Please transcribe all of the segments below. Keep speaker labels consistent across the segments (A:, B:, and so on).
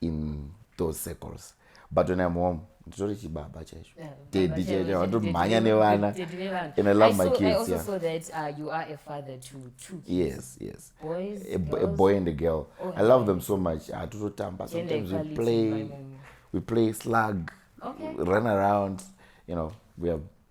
A: in those circles but when i'm home nditori chibaba chaizvo tedi chaizvo vatomhanya nevana and i love my kids yeah. so that, uh, you are a father to two kids. yes yes Boys, a, a boy and a girl oh, i love them so much hatototamba ah, sometimes we play we play slug okay. run around you know we have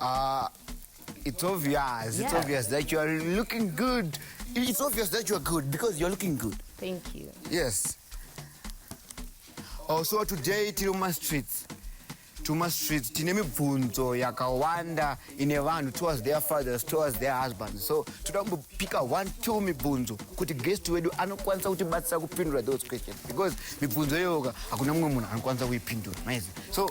A: Uh, it's obvious. It's obvious that you are looking good. It's obvious that you are good because you are looking good. Thank you. Yes. Also oh, today tiri muma streets tuma streets tine mibvunzo yakawanda ine vanhu towards their fathers towards their husbands so toda kumbopika one two mibvunzo kuti guest wedu anokwanisa kutibatsira kupindura those questions because mibvunzo iyoyoka hakuna mumwe munhu anokwanisa kuipindura maizi so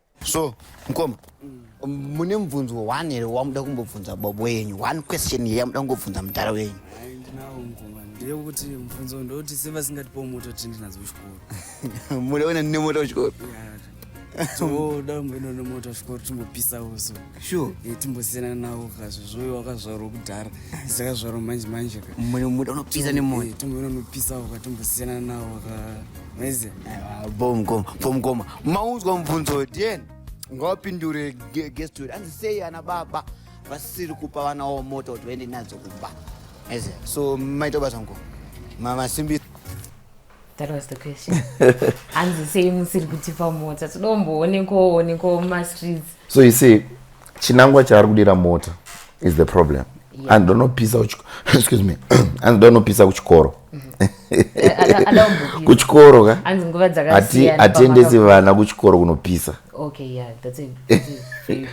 A: so mkoma mune mubvunzo one here wamuda kumbobvunza bobo yenyu one question here yamuda kungobvunza mudhara wenyu ndeyekuti mubvunzo ndoti sevasingatipo moto kuti ndinadzo kuchikoro muda wena ndine moto kuchikoro toda mboenda nemoto kuchikoro timbopisa uso sure eh, timbosiyana nawo kazvo zvoyo wakazvarwa kudhara dzakazvarwa manje manje ka mune muda unopisa nemoto eh, timbononopisa uka timbosiyana nawo ka maiziva bom goma bom goma maunzwa mubvunzo den ngawapindure guest wedu anzi sei ana baba vasiri kupa vana wavo mota kuti vaende nadzo kumba Yes, so maita basa ngo mamasimbi That was the question. Hanzi sei musiri kutipa mota. Toda kumboonekwawo onekwawo mumastreets. so you see chinangwa chaari kudira mota is the problem yeah. and donopisa excuse me and donopisa kuchikoro mm-hmm. kuchikoro ka hatiendesi vana kuchikoro kunopisa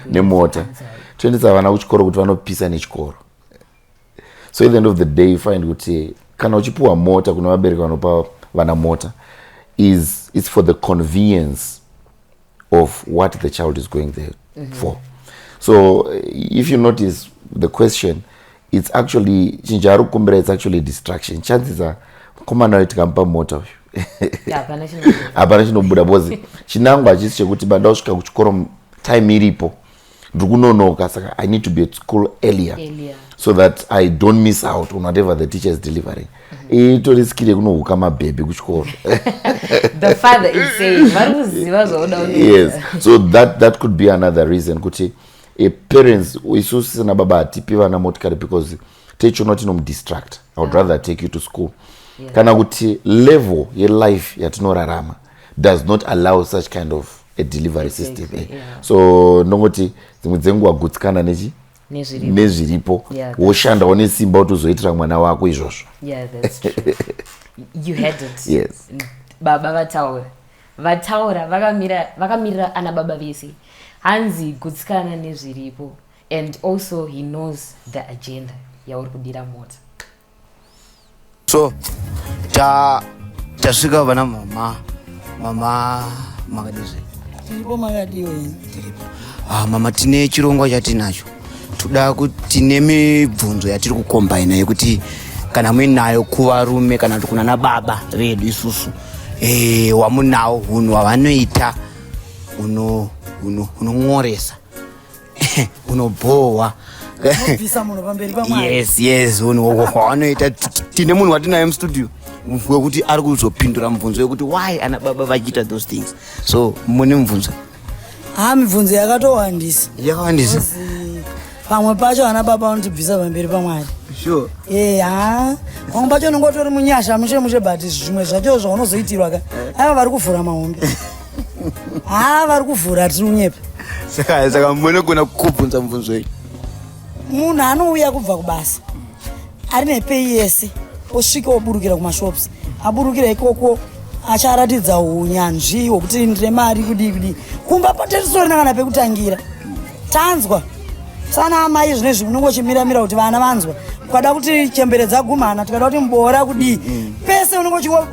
A: nemota toendesa vana kuchikoro kuti vanopisa nechikoro so at the end of the day you find kuti kana uchipiwa mota kune vabereki vanopa vana mota is its for the convenience of what the child is going there mm -hmm. for so if you notice the question it's actually chinhu chaari kukumbira it's actually distraction chances are mukomana uyo tikamupa mota uyu hapana chinobuda bcause chinangwa hachisi chekuti banda usvika kuchikoro time iripo ndiri kunonoka saka i need to be at school earlier, earlier. so that i don't miss out on whatever the teacher is delivering mhm. itori skiri yekunohuka mabhebhi kuchikoro yes so that, that could be another reason kuti e parents isu sisina baba hatipi vana motikari because techiona kuti inomudistract i would ah. rather take you to school yeah. kana kuti level yelife yatinorarama does not allow such kind of a delivery exactly, system eh? yeah. so ndongoti dzimwe dzenguva gutsikana nechi nezviripo woshandawo nesimba kuti uzoitira mwana wako izvozvo baba vataura vataura vakamirira ana baba vese hanzi gutsikana nezviripo and also he knows the agenda yauri kudira mota so ta tasvika vana mama mama makadizve tiripo makadiwo tiripo ah mama tine chirongwa chatinacho toda kuti tine mibvunzo yatiri kukombaina yekuti kana muinayo kuvarume kana kuti kunana baba vedu isusu e, wamunawo hunhu hwavanoita hunon'oresa unobhohwa yes yes anoita tine munhu watinaye mustudio wekuti ari kuzopindura mubvunzo wekuti why ana baba vachiita those things so mune mubvunzo ha ah, mibvunzo yakatowandisa yakawandisa pamwe pacho ana baba vanotibvisa pamberi pamwari sure eh ha pamwe pacho unenge utori munyasha mushe mushe but zvimwe zvacho zvaunozoitirwa ka eh. ava vari kuvhura mahombe haa vari kuvhura hatinonyepa saka saka munogona kubvunza mubvunzo iyi munhu anouya kubva kubasa ari nepei yese osvika oburukira kumashops aburukira ikoko acharatidza unyanzvi hwokuti ndine mari kudii kudii kumba patetisori nakana pekutangira tanzwa sana amai zvine zvi munongo chimiramira kuti vana vanzwa ukada kuti chembere dzagumana tikada kuti muboora kudii mm. pese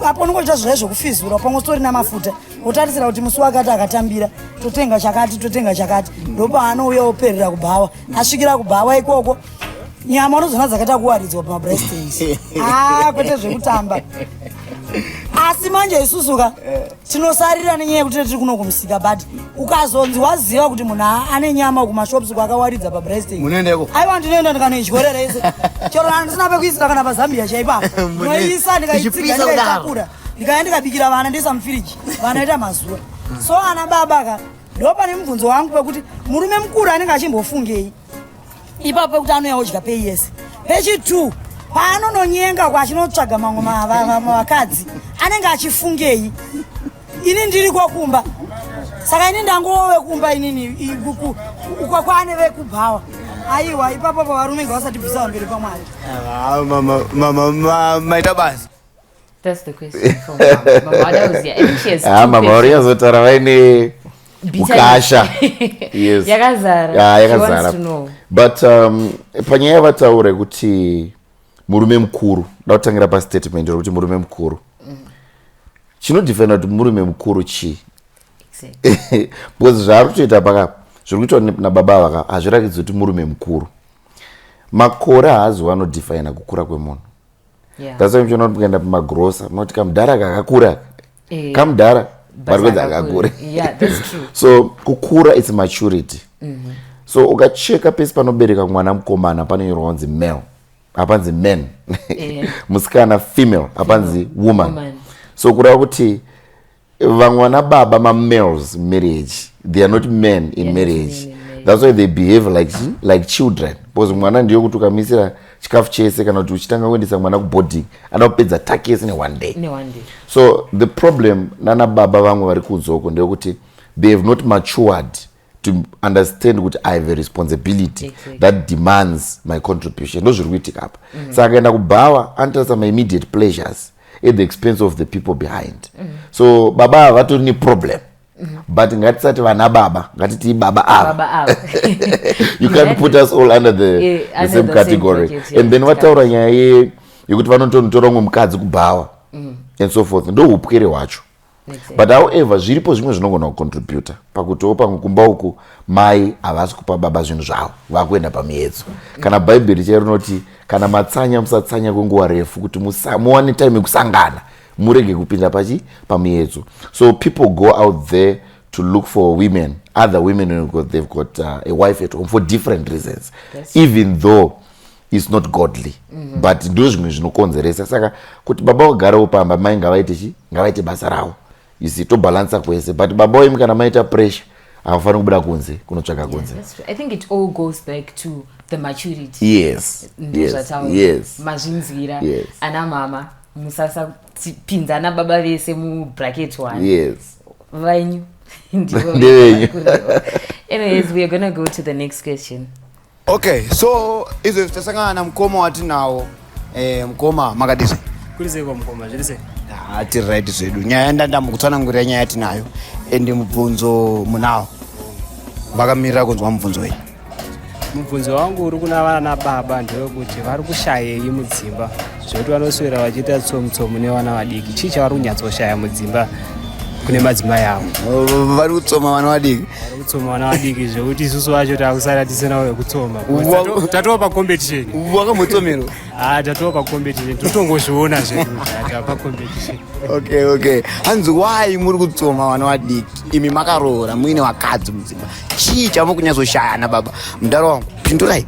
A: apo unongo chita zvizai zvekufizura pamwe usitori na mafuta otarisira kuti musi wakati akatambira totenga chakati totenga chakati mm. ndopaanouya operera kubhawa asvikira kubhawa ikoko nyama unozoona dzakaita kuwaridzwa pamabrestings a ah, kwete zvekutamba asi manje isusuka eh. tinosarira nenyaya yekuti tiri kuno kumusika but ukazonzi waziva kuti munhu ane nyama kumashops kwakawaridza pabrestmunoendeko aiwa ndinoenda ndikanoidyorera ise chero handisina pekuisira kana pazambia chaipa noisa ndikaitsiga ndikaitakura ndikaya ndikabikira vana ndoisa mufiriji vana ita mazuva so ana baba ka ndopane mubvunzo wangu pekuti murume mukuru anenge achimbofungei ipapo pekuti anouya odya pei yese pechitwo paanononyenga kwachinotsvaga mamwe vakadzi anenge achifungei ini ndiri kwakumba saka ini ndangove kumba inini kwaane vekubhawa aiwa ipapo pavarume nga vasatibvisa vamberi pamwari mama maita basa That's the question for mama. Mama Adauzia. I think she has Ah, two mama vari questions. yazotaura vaine Bitterness. ukasha yes Yakazara. Ah, She wants yakazara to know. but um, panyaya yavataura yekuti murume mukuru da kutangira pastatement rekuti murume mukuru chinodefenda kuti murume mukuru chii Exactly. because zvaari kutoita pakapa zviri kuitwa ne- nababa ava ka hazviratidzi kuti murume mukuru makore haazi wanodefina kukura kwemunhu yeah. that's why muchiona kuti mukaenda pamagrosa munoti kamudhara kakakura eh, kamudhara vari kuedza kakakure yeah, so kukura its maturity mm -hmm. so ukacheka pese panobereka mwana mukomana panonyorwa kunzi male hapanzi man yeah. musikana female hapanzi woman, woman. so kureva kuti vamwe vana baba mamales marriage they are not men in yeah, marriage men in marriage. that's why they behave like, like children because mwana ndiyo kuti ukamisira chikafu chese kana kuti uchitanga kuendesa mwana kuboarding ana kupedza taki yese neone day so the problem nana baba vamwe vari kunzoko ndeyekuti they have not matured to understand kuti i have a responsibility exactly. that demands my contribution ndo zviri kuitika apa mm -hmm. saka akaenda kubhawa anotarisa maimmediate pleasures at the expense of the people behind mm -hmm. so baba ava vatori neproblem mm -hmm. but ngatisati vana baba ngatitii baba ava you can't put us all under the, yeah, the under same the category same yeah, and then vataura nyaya yekuti vanotonotora umwe mukadzi kubhawa mm -hmm. and so forth ndoupwere hwacho but however zviripo zvimwe zvinogona kucontributa pakutiwo pamwe kumba uku mai havasi kupa baba zvinhu zvavo vakuenda pamiedzo kana bhaibheri chai rinoti kana matsanya musatsanya kwenguva refu kuti muwane time yekusangana murege kupinda pachi pamiedzo so people go out there to look for women other women got, they've got uh, a wife at home for different reasons That's even though is not godly mm -hmm. but ndo zvimwe zvinokonzeresa saka kuti baba wagarewo pamba mai ngavaite chi ngavaite basa ravo isi tobalansa kwese but baba wemi kana maita pressure havafaniri kubuda kunze kunotsvaga kunze yes yes mazvinzwira yes. ana mama musasapinza ana baba vese mubracket one yes vainyu ndivenyu anyways weare gonna go to the next question Okay, so izvo tichasangana na mukoma watinawo eh, mukoma makadii kuri sei kwamukoma zviri sei ah, tiri right zvedu nyaya ndandamukutsanangurira nyaya tinayo ende mubvunzo munawo vakamirira kunzwa mubvunzo iyi mubvunzo wangu uri kuna vana baba ndewekuti vari kushayei mudzimba zvekuti vanoswera vachiita tsomutsomu nevana vadiki chii chavari kunyatsoshaya mudzimba kune madzimai avo vari kutsoma vana vadiki vari kutsoma vana vadiki zvekuti isusu vacho takusara tisina vekutsoma tatova pacompetition wakamutsomerwa ha ah, tatova pacompetition totongozviona zvedupacompetition okay okay hanzi wai muri kutsoma vana vadiki imi makaroora muine vakadzi mudzimba chii chavo kunyatsoshayana baba mudaro wangu pindurai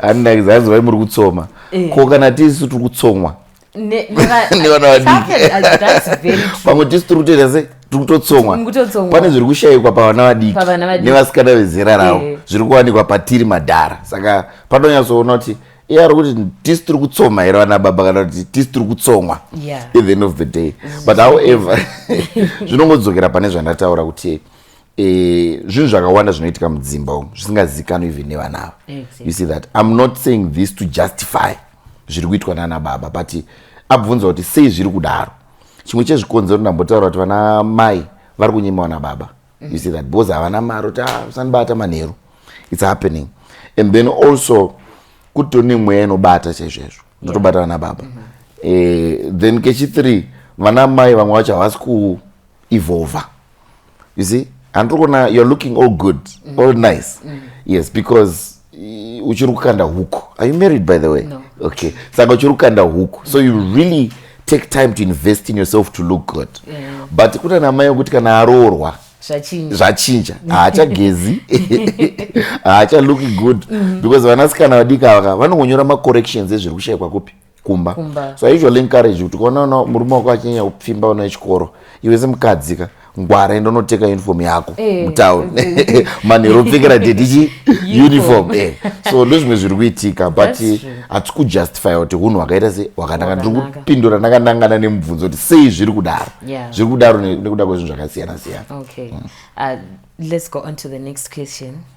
A: handinakidza hanzi vai muri kutsoma eh. ko kana tisu tiri kutsomwa nevana vadikivamwe tisu tiri kutoita sei tiri kutotsomwa pane zviri kushayikwa pavana vadiki nevasikana vezera ravo eh. zviri kuwanikwa patiri madhara saka panonyatsoona kuti iye ari kuti tisu tiri kutsoma here vana baba kana kuti tisu tiri kutsomwa at the end of the day but however zvinongodzokera pane zvandataura kuti e, zvinhu zvakawanda zvinoitika mudzimba umu zvisingazivikanwi even nevana ava exactly. you see that im not saying this to justify zviri kuitwa nana baba but abvunza kuti sei zviri kudaro chimwe chezvikonzero ndambotaura kuti vana mai vari kunyima vana baba mm. you see that because havana mari kuti ah, usanibata manheru its happening and then also kutone mweya inobata chaizvoizvo ndotobata vana baba mm -hmm. eh, then kechithree vana mai vamwe vacho havasi kuevolva you see handiri kuona you're looking all good mm. all nice mm. yes because uchiri kukanda huku are you married by the way no. okay saka uchiri kukanda huku so you really take time to invest in yourself to look good yeah. but kuna namai yokuti kana aroorwa zvachinja haachagezi haacha looki good mm-hmm. because vanasikana vadiki ava vanongonyora macorrections ezviri kushaikwa kupi kumba so i usually encourage kuti kuona ona murume wako achinyanya kupfimba vana vechikoro iwe semukadzi ka ngwara enda unoteka uniform yako eh, mutown manhero upfekera dedichi uniform eh. so ndozvimwe zviri kuitika but hatisi kujustifya kuti unhu hwakaita se hwakananga ndiri kupindura ndakanangana nemubvunzo kuti sei zviri kudaro zviri kudaro nekuda kwezvinhu zvakasiyana siyana mm. uh,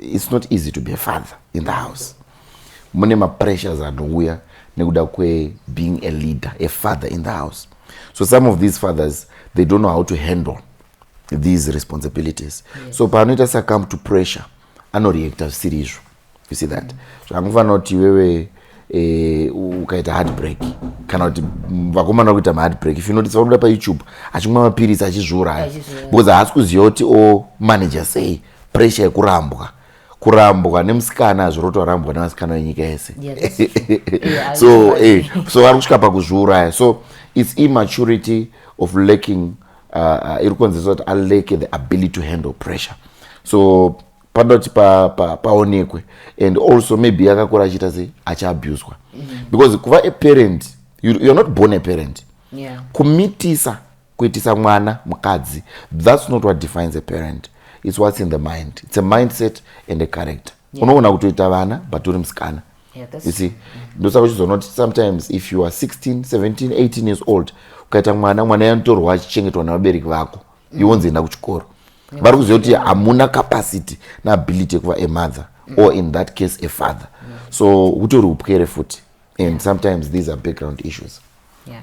A: it's not easy to be a father in the house mune mapressures anouya nekuda kwebeing a leader a father in the house so some of these fathers they don't know how to handle these responsibilities yes. so paanoita succumb to pressure anoreacta zvisiri izvo you see that so angofanira kuti iwewe eh, ukaita heartbreak kana kuti vakomana kuita maheartbreak if unotisa unoda payoutube achimwa mapiritsi achizviuraya because haasi kuziva kuti omanager oh, sei pressure yekurambwa kurambwa nemusikana hazviroto arambwa nevasikana venyika yese so eh, so ari kusvika pakuzviuraya so its immaturity of lacking uh, uh, iri kukonzesa kuti alake the ability to handle pressure so panoda kuti paonekwe pa, pa and also maybe akakura achiita sei achiabuswa mm. because kuva a parent you're not born a parent yeah. kumitisa Kuitisa mwana mukadzi that's not what defines a parent it's what's in the mind it's a mindset and a character yeah. unogona kutoita vana but uri musikana yeah, you see ndosaka uchizonoti sometimes if you are 16 17 18 years old ukaita mwana mwana yanotorwa achichengetwa nevabereki vako mm. iwonzi enda kuchikoro yeah. vari kuziva kuti hamuna capacity neability yekuva a mother mm. or in that case a father mm. so hutori upwere futi and sometimes these are background issues yeah.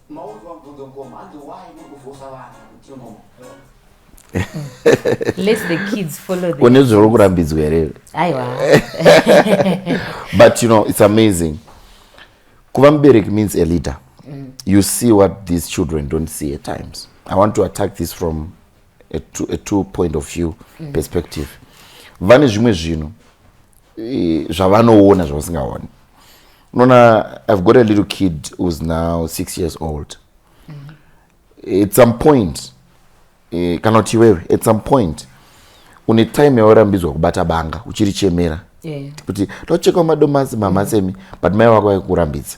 A: Maudzwa mubvunzo mukoma hanzi why muri kuvhosa vanhu kuti imomo. Let the kids follow the Une zviri kurambidzwa here? Aiwa. But you know it's amazing. Kuva mubereki means a leader. Mm. You see what these children don't see at times. I want to attack this from a two, a two point of view mm. perspective vane zvimwe zvinhu e, zvavanoona zvavasingaoni unoona i've got a little kid who's now six years old mm. at some point e, kana kuti iwewe at some point une time yawarambidzwa kubata banga uchirichemera yeah. kuti tochekawo madomasi mamasemi mm. but mai wako vaikurambidza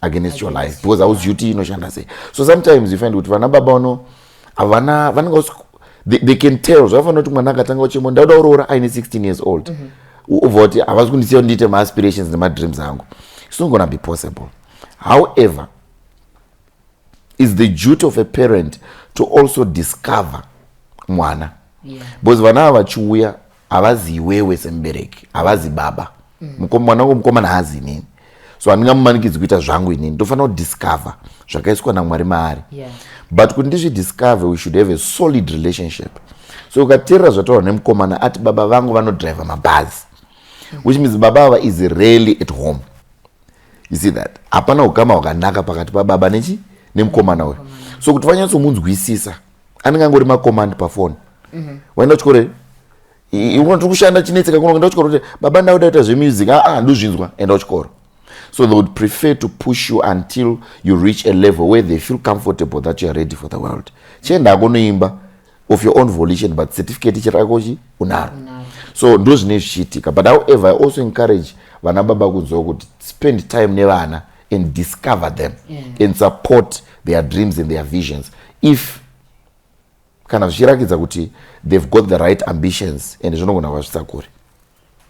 A: against your life because hauzivi kuti inoshanda sei so sometimes you find kuti vana baba vano havana vanenge they, they can tell zvavafanira kuti mwana akatanga uchemo ndauda kuroora aine 16 years old mm -hmm. ubva kuti havazi kundisiya ndiite maaspirations nemadreams angu it's not gonna be possible however is the duty of a parent to also discover mwana yeah. because vana ava vachiuya havazi iwewe semubereki havazi baba mm. mwana wangu mukomana haazi inini so handingamumanikidzi kuita zvangu inini ndofanira kudiscover zvakaiswa namwari maari yeah. but kuti ndizvidiscover we should have a solid relationship so ukateerera zvataurwa nemukomana ati baba vangu vanodriver mabhazi mm. which means baba ava is really at home you see that hapana ukama hwakanaka pakati pababa nechi nemukomana uyo so kuti vanyatsomunzwisisa anenge angori macommand pafoni mhm. waenda kuchikoro here uno tiri kushanda chinetseka kuno enda kuchikoro kuti baba nda kuda kuita zvemusic aa ah, ah, ndozvinzwa enda kuchikoro so they would prefer to push you until you reach a level where they feel comfortable that you are ready for the world chienda ako noimba of your own volition but certificate chirakochi unaro so ndo zvine zvichiitika but however i also encourage vana baba kunzwa kuti spend time nevana and discover them yeah. and support their dreams and their visions if kana zvichirakidza kuti they've got the right ambitions and zvinogona kuvasvitsa kure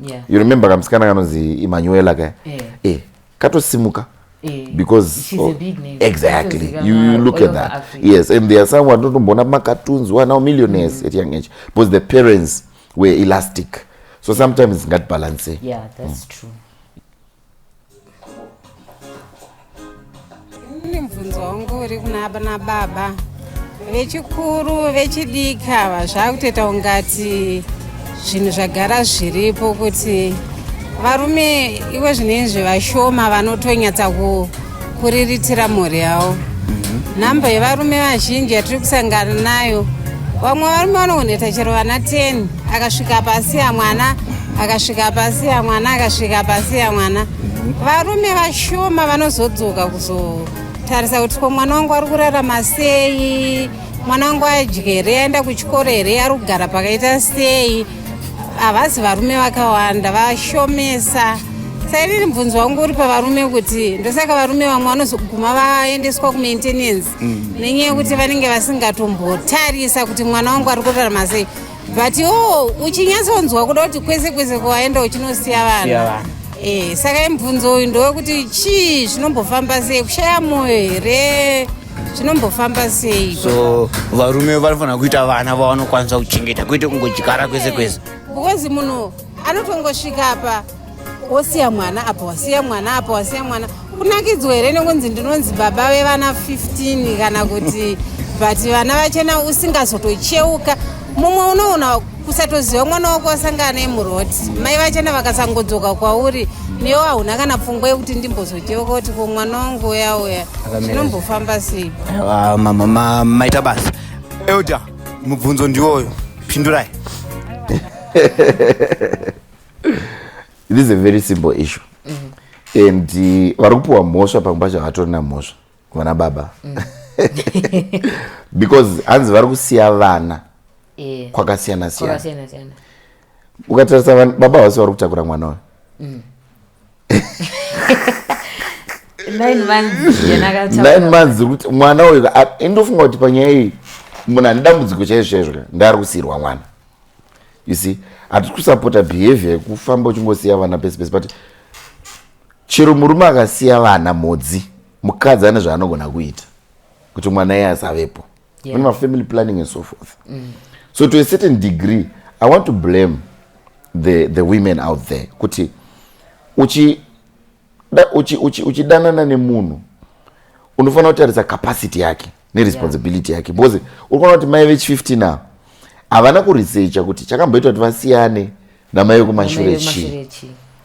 A: yeah. you remember kamusikana kanonzi imanuela ka yeah. eh, katosimuka eh, because oh, exactly you, you look at that Africa. yes and there are some vanotomboona pamacartoons who are now millionaires mm. at young age because the parents were elastic so sometimes ngatibalancei yeah, that's mm. true Ini mubvunzo wangu uri kuna na baba vechikuru vechidiki ava zvakutoita ungati zvinhu zvagara zviripo kuti varume iwe zvinei zvevashoma vanotonyatsa kuriritira mhuri yavo mhm. nhamba yevarume vazhinji yatiri kusangana nayo vamwe varume vanooneta chero vana 10 akasvika pasi ya mwana akasvika pasi ya mwana akasvika pasi ya mwana mhm. varume vashoma vanozodzoka kuzotarisa kuti ko mwana wangu ari kurarama sei mwana wangu adyere aenda kuchikoro here ari kugara pakaita sei havazi varume vakawanda vashomesa sairiri mubvunzo wangu uri pavarume kuti ndosaka varume vamwe vanozoguma vaendeswa kumaintenance mm. nenyaya yekuti vanenge vasingatombotarisa kuti mwana wangu ari kurarama sei but iwo uchinyatsonzwa kuda kuti kwese kwese kwawaenda uchinosiya vanhu e, saka imubvunzo uyu ndowekuti chii zvinombofamba sei kushaya mwoyo here zvinombofamba sei so varume vanofanira kuita vana vavanokwanisa kuchengeta kwete kungodyara kwese kwese because munhu anotongosvika apa wosiya mwana apa wasiya mwana apa wasiya mwana kunakidzwa here nekunzi ndinonzi baba vevana 15 kana kuti but vana vachena usingazotocheuka mumwe unoona kusatoziva mwana wako wasangana naye muroad mai vachana vakasangodzoka kwauri newo hauna kana pfungwa yekuti ndimbozodyewa kuti ko mwana wangu uya uya zvinombofamba sei Ah, ma- ma- ma- maita basa elder mubvunzo ndiwoyo pindurai this is a very simple issue and eh, vari kupiwa mhosva pamwe pacho havatorina mhosva vana baba mm. because hanzi vari kusiya vana eh. kwakasiyana siyana ukatarisa baba vasi vari kutakura mwana uyo mm. nine months kuti mwana uyu indofunga kuti panyaya iyi munhu ane dambudziko chaizvo chaizvo ndaari kusiyirwa mwana you see hatisi kusapota behavior yekufamba uchingosiya vana pese pese but Chero murume akasiya vana mhodzi mukadzi ane zvaanogona kuita kuti mwana iye asavepo yeah. mune mafamily planning and so forth mm. so to a certain degree i want to blame the, the women out there kuti uchi uchidanana uchi, uchi nemunhu unofanira kutarisa capacity yake neresponsibility yake because uri kuona kuti mai vechi 15 ava havana kuresecha kuti chakamboitwa kuti vasiyane namai vekumashure chii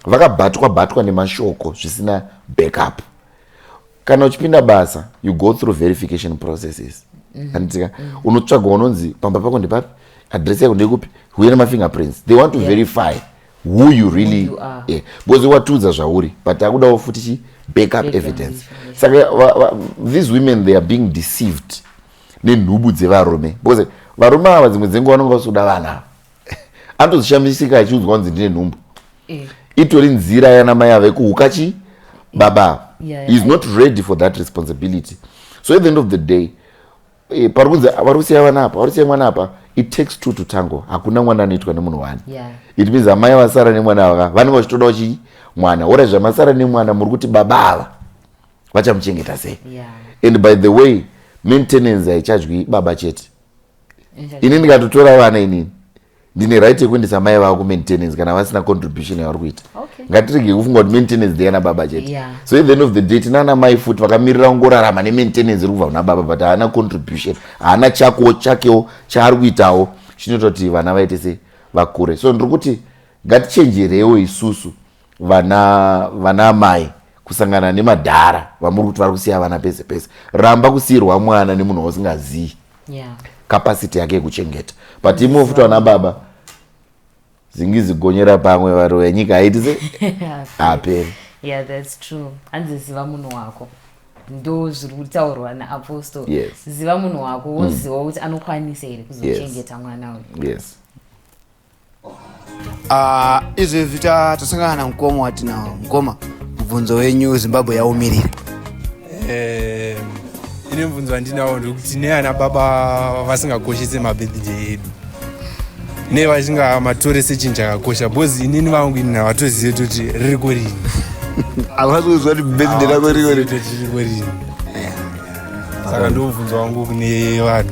A: vakabatwa batwa nemashoko zvisina backup kana uchipinda basa you go through verification processes mhm. anditika mm -hmm. unotsvaga unonzi pamba pako ndepapi adress yako ndekupi huye nemafingerprints they want to yeah. verify who you really who you are. Yeah. because watiudza zvauri but takudawo futi chi back up evidence saka yes. these women they are being deceived nenhubu dzevarume because varume ava dzimwe dzenguva vanonge vasoda vana ava anotozishamisika achiudzwa kunzi ndine nhumbu eh. itori nzira yana mai ava ikuhuka chi baba yeah, yeah, is not ready for that responsibility so at the end of the day Eh, pari kunzi vari kusiya vana apa vari kusiya mwana apa it takes two to tango hakuna mwana anoitwa nemunhu wani yeah. it means amai vasara nemwana ava vanenge vachitodawo chii mwana ora zvamasara nemwana muri kuti baba ava vachamuchengeta sei yeah. and by the way maintenance haichadyi baba chete ini ndikatotora vana inini ndine right yekuendesa mai vavo kumaintenance kana vasina contribution yavari kuita okay. ngatirege kufunga kuti maintenance ndeyana baba chete yeah. so at the end of the day tinana mai futi vakamirira kungorarama nemaintenance iri kubva kuna baba but haana contribution haana chakowo chakewo chaari kuitawo chinoita kuti vana vaite se vakure so ndiri kuti ngatichenjerewo isusu vana vana amai kusangana nemadhara vamuri kuti vari kusiya vana pese pese ramba kusiyirwa mwana nemunhu wausingazivi yeah. capacity yake yekuchengeta but imwe futi vana baba zingizigonyera pamwe varoya nyika haiti se haperi yeah that's true hanzi ziva munhu wako ndo zviri kutaurwa naapostle yes. ziva munhu wako woziva mm. kuti anokwanisa here kuzochengeta yes. mwana uyu yes. Ah, izvi vita tasangana na mkoma wati na mkoma mubvunzo wenyu zimbabwe yaumirira Eh, ine mubvunzo wandinawo ndekuti neana baba vasingakoshese mabirthday edu ne vasingamatore sechinhu chakakosha bcause inini vangu ini havatozive kuti ririko rini havasi kuziva kuti birthday rako riko Havatozive kuti ririko rini saka ndomubvunzo wangu kune vanhu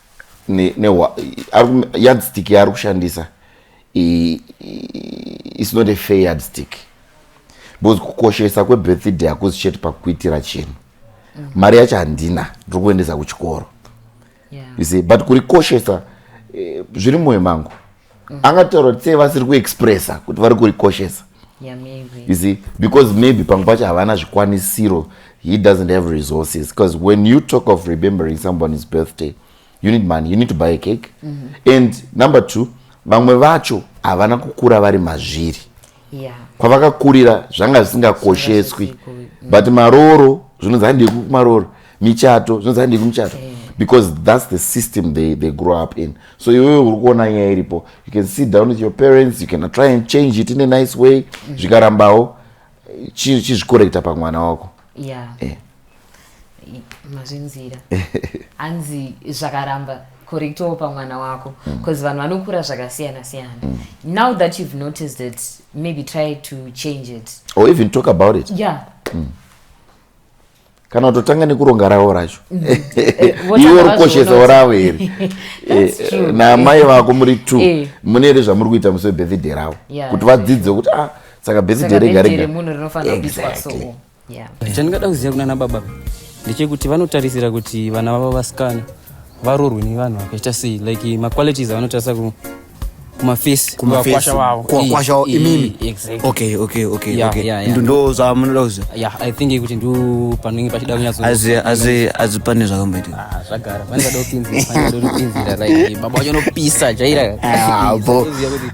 A: yardstick yaari kushandisa is not a fair yardstick because kukoshesa kwebirthday hakuzi chete pakuitira chinhu mm. mari yacho handina ndiri kuendesa kuchikoro yeah. but kurikoshesa eh, zviri mumwoyo mangu angataura kuti sei vasiri kuexpressa kuti vari kurikoshesa yeah, you see because maybe pamwe pacho havana zvikwanisiro he doesn't have resources because when you talk of remembering someone's birthday you need money you need to buy a cake mm -hmm. and number two vamwe vacho havana kukura vari mazviri yeah. kwavakakurira zvanga zvisingakosheswi but marooro zvinonzi handei kumarooro michato zvinonzi handei kumichato yeah because that's the system they, they grow up in so iwewe uri kuona nyaya iripo you can sit down with your parents you can try and change it in a nice way mm-hmm. zvikarambawo chizvikorekta pamwana wako yeah. yeah. mazvinzira hanzi zvakaramba correctoo pamwana wako because mm. vanhu vanokura zvakasiyana siyana mm. now that you've noticed it maybe try to change it or even talk about it yeah mm. kana kutotanga nekuronga ravo racho mm. eh, eh, iwe uri koshesawo ravo here eh, naamai vako muri two mune here zvamuri kuita musi webirthday ravo kuti vadzidze kuti a ah, saka birthday rega rega exactly yeah. chandingada kuziva kunana baba ndechekuti vanotarisira kuti vana vavo vasikana varorwe nevanhu vakaita sei like maqualities avanotarisa ku kumafesi kuvakwasha wavo kuvakwasha wavo imimi exactly okay okay okay yeah, okay yeah, yeah. ndo zvamunoda kuziva yeah i think kuti ndo panenge pachida kunyatso as as as pane zvakamboitika ah zvagara pane zvadopinzira pane zvadopinzira like baba wacho nopisa chaira ah bo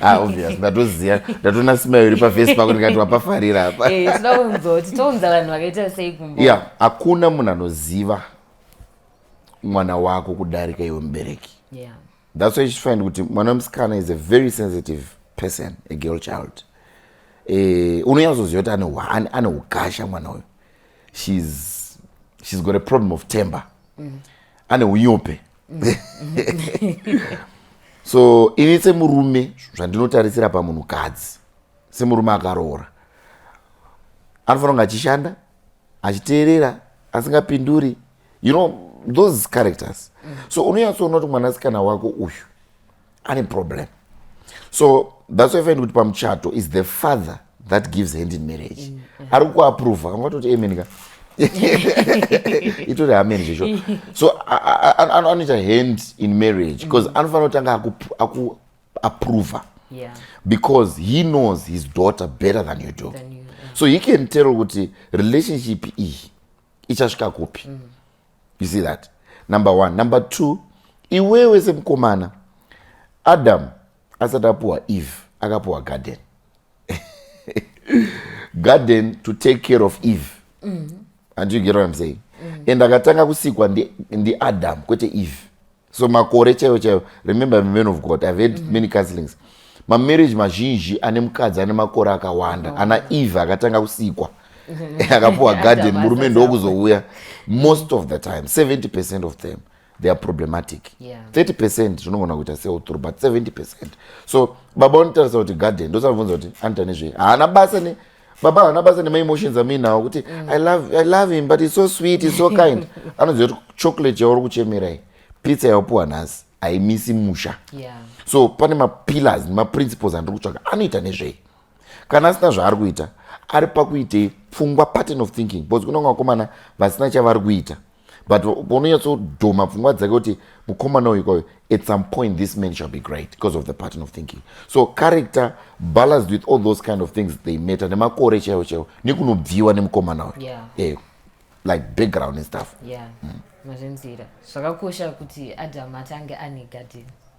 A: ah, obvious ndatoziva ndatona smile iri pafesi pako ndikati wapafarira apa eh, tinoda kunzoti tounza vanhu vakaita sei kumbo ya hakuna munhu anoziva mwana wako kudarika iwe mubereki yeah. that's why chifind kuti mwana wemusikana is a very sensitive person a girl child eh, unonyatsoziva kuti ane ukasha mwana uyu she's, she's got a problem of temper mm. ane unyope mm. so ini semurume zvandinotarisira pamunhu kadzi semurume akaroora anofanira kunge achishanda achiteerera asingapinduri you know those characters mm. so unonyatsoona kuti mwanasikana wako uyu ane problem so that's why find kuti pamuchato is the father that gives hand in marriage mm, yeah. ari kuaprova kanga toti amen ka itori amen zvecho so anoita hand in marriage because mm. anofanira kutanga akuaprova aku yeah. because he knows his daughter better than you do than you, yeah. so he can tell kuti relationship iyi ichasvika kupi mm. you see that number one number two iwewe semukomana adam asati apuwa eve akapuwa garden garden to take care of eve mm-hmm. and you get what i'm saying mm. and akatanga kusikwa ndiadam ndi kwete eve so makore chaivo chaivo remember the man of god ive had mm. many counselings mamarriage mazhinji ane mukadzi ane makore akawanda oh. ana eve akatanga kusikwa akapuwa garden murume ndokuzouya most of the time 70 percent of them they are problematic yeah. 30 percent zvinogona kuita seuturu but 70 percent so baba unotarisa kuti garden ndosabvunza kuti anoita nezvei haana basa ne baba havana basa nemaemotions amuinawo kuti mm. I, love, i love him but it's so sweet it's so kind anoziva kuti chocolate yauri kuchemerai pizza yaopiwa nhasi haimisi musha yeah. so pane mapillars nemaprinciples andiri kutsvaga anoita nezvei kana asina zvaari kuita ari pakuitei pfungwa pattern of thinking because kunonga vakomana vasina chavari kuita but unonyatsodhoma pfungwa dzake kuti mukomana uyu kwayo at some point this man shall be great because of the pattern of thinking so character balanced with all those kind of things they matter nemakore chaiwo chaiwo nekunobviwa nemukomana uyu yeah. yeah. like background and stuff yeah. mm. mazvinzira zvakakosha kuti adam atange ane gadheni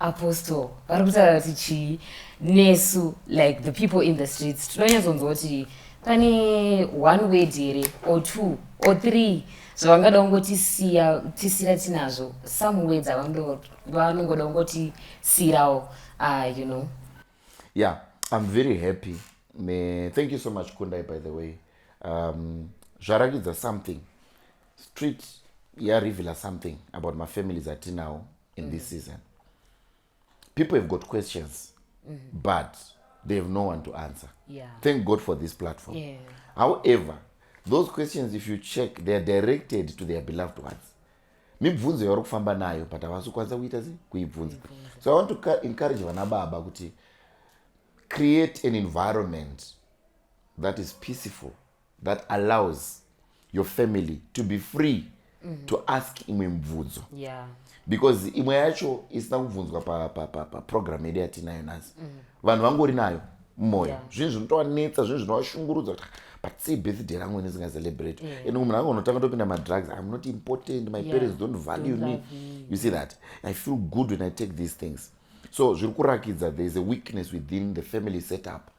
A: Apostle vari kutaura kuti chii nesu like the people in the streets tinonyatsonzwa kuti pane one word here or two or three zvavangada kungotisiya tisira tinazvo some words avanongoda kungotisirawo ah, you know yeah i'm very happy Me, thank you so much kundai by the way um, zvarakidza something street yarevealer something about mafamilies atinawo in mm. this season people have got questions mm. but they have no one to answer yeah. thank god for this platform yeah. however those questions if you check they are directed to their beloved ones mibvunzo yavari kufamba nayo but havasi kukwanisa kuita se kuibvunza so i want to encourage vana baba kuti create an environment that is peaceful that allows your family to be free mm -hmm. to ask imwe mibvunzo yeah. because imwe yacho isina kubvunzwa paprogram pa, pa, pa yedu yatinayo nhasi mm -hmm. vanhu vangori nayo mumwoyo yeah. zvinhu zvinotovanetsa zvinhu zvinovashungurudza kuti but sei birthday rangu ini zingacelebrate yeah. and munhu angu unotanga topinda madrugs im not important my yeah. parents don't value don't me you see that i feel good when i take these things so zviri kurakidza there is a weakness within the family setup mm -hmm.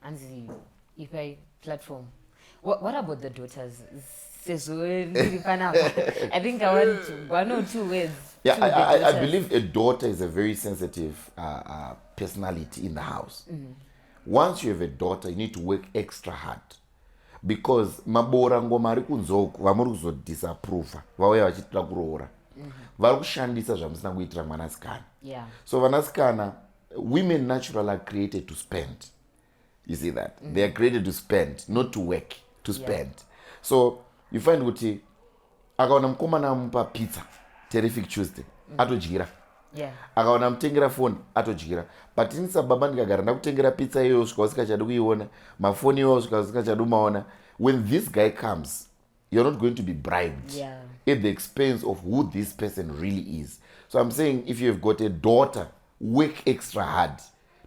A: hanzi ipai platform what, what about the daughters sezvo ndiri panapa i think i want one or two words yeah I, I, I believe a daughter is a very sensitive uh, uh, personality in the house mm -hmm. once you have a daughter you need to work extra hard because maboora ngoma ari kunzoku vamuri kuzodisapprove vauya vachitira kuroora mm -hmm. vari kushandisa zvamusina kuitira mwanasikana yeah. so vanasikana women natural are created to spend you see that mm -hmm. they are created to spend not to work to spend yeah. so you find kuti akaona mukomana amupa pizza terrific tuesday mm -hmm. atodyira yeah. akaona amutengera foni atodyira but ini sababa ndikagara ndakutengera pizza iyoyo svika usikachadi kuiona mafoni iyoyo svika usikachadi umaona when this guy comes you're not going to be bribed yeah. at the expense of who this person really is so i'm saying if you have got a daughter work extra hard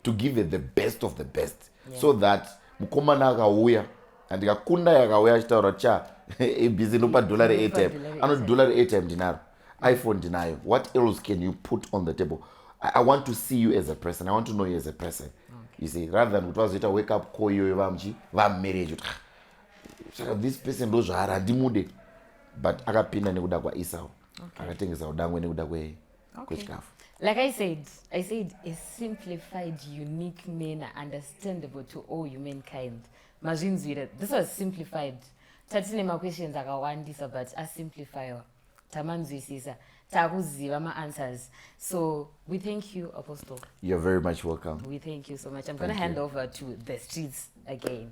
A: to give her the best of the best yeah. so that mukomana akauya andikakunda yakauya achitaura cha abc nopa dollar reatime anoti dollar reatime ndinaro iphone ndinayo what else can you put on the table I, i want to see you as a person i want to know you as a person okay. you see rather than kuti vazoita wake up call iyoyo vamuchi vamumereji kuti saka this person ndo zvaari handimude but akapinda nekuda kwaesau okay. akatengesa udangwe nekuda kwe okay. kwechikafu like i said i said a simplified unique manner understandable to all humankind mazvinzwira this was simplified tatine maquestions akawandisa but asimplifyiwa tamanzwisisa takuziva maanswers so we thank you apostle you're very much welcome we thank you so much i'm gonna hand over to the streets again